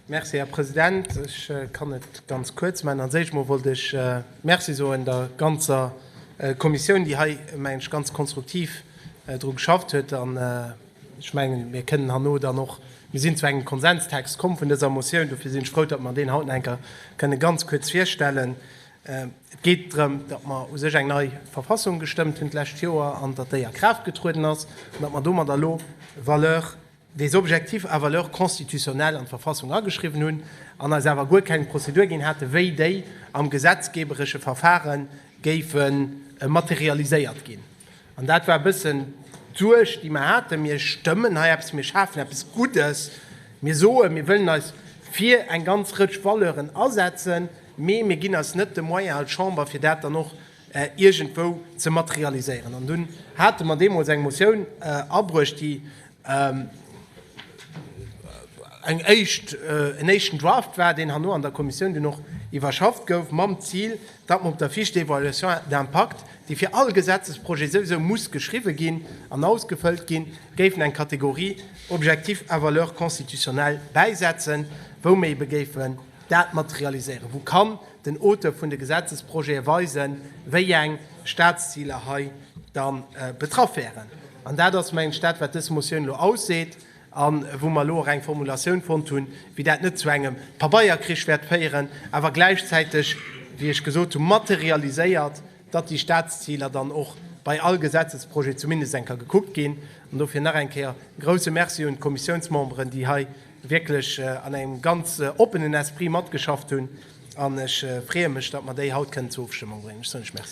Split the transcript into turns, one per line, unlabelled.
Merci, Här President. Ech kann et ganz kuerz maachen. Als éischt mol wollt ech Merci soen der ganzer Kommissioun, déi hei, mengen ech, ganz konstruktiv dru geschafft huet. An ech mengen, mir kënnen herno dann och, mir sinn zu engem Konsenstext komm vun dëser Motioun. Dofir sinn ech frou, datt mer deen haut nach eng Kéier kënnen ganz kuerz virstellen. Et geet drëm, datt mer u sech eng nei Verfassung gestëmmt hunn d'lescht Joer an datt déi a Kraaft getrueden ass an datt mer domadder elo Valeur des Objectifs à valeur constitutionnelle an d'Verfassung ageschriwwen hunn an eis awer guer keng Prozedur ginn haten, wéi déi am gesetzgeeberesche Verfare géife materialiséiert ginn. An dat war e bëssen d'Suerg, déi mer haten. Mir stëmmen hei eppes, mir schafen eppes Guddes, mir soen, mir wëllen eis fir eng ganz Rëtsch Valeuren asetzen, mee mir ginn eis net de Moyen als Chamber, fir dat dann och iergendwou ze materialiséieren. An dunn hate mer deemools eng Motioun abruecht, déi eng éischt, en éischten Draft war, deen herno an der Kommissioun dunn och iwwerschafft gouf, mam Zil, datt mer op der Fiche d'évaluation d'impact, déi fir all Gesetzesprojet souwisou muss geschriwwen ginn an ausgefëllt ginn, géifen eng Kategorie Objectifs à valeur constitutionnelle bäisetzen, wou mer eebe géifen, dat mat realiséieren? Wou kann den Auteur vun de Gesetzesprojete weisen, wéi eng Statsziler hei da betraff wäeren? An dat ass, mengen ech, dat, wat dës Motioun elo ausseet a wou mer elo och eng Formulatioun fonnt hunn, déi dat net zu engem Pabeierkrich wäert féieren, awer gläichzäiteg, wéi ech gesot hunn, materialiséiert, datt déi Statsziler dann och bei all Gesetzesprojet zumindest eng Kéier gekuckt ginn. An dofir nach eng Kéier e grouse Merci un d'Kommissiounsmemberen, déi hei wierklech an engem ganz oppenen Esprit matgeschafft hunn an ech freeë mech, datt mer déi haut kënnen zur Ofstëmmung bréngen. Ech soen lech Merci.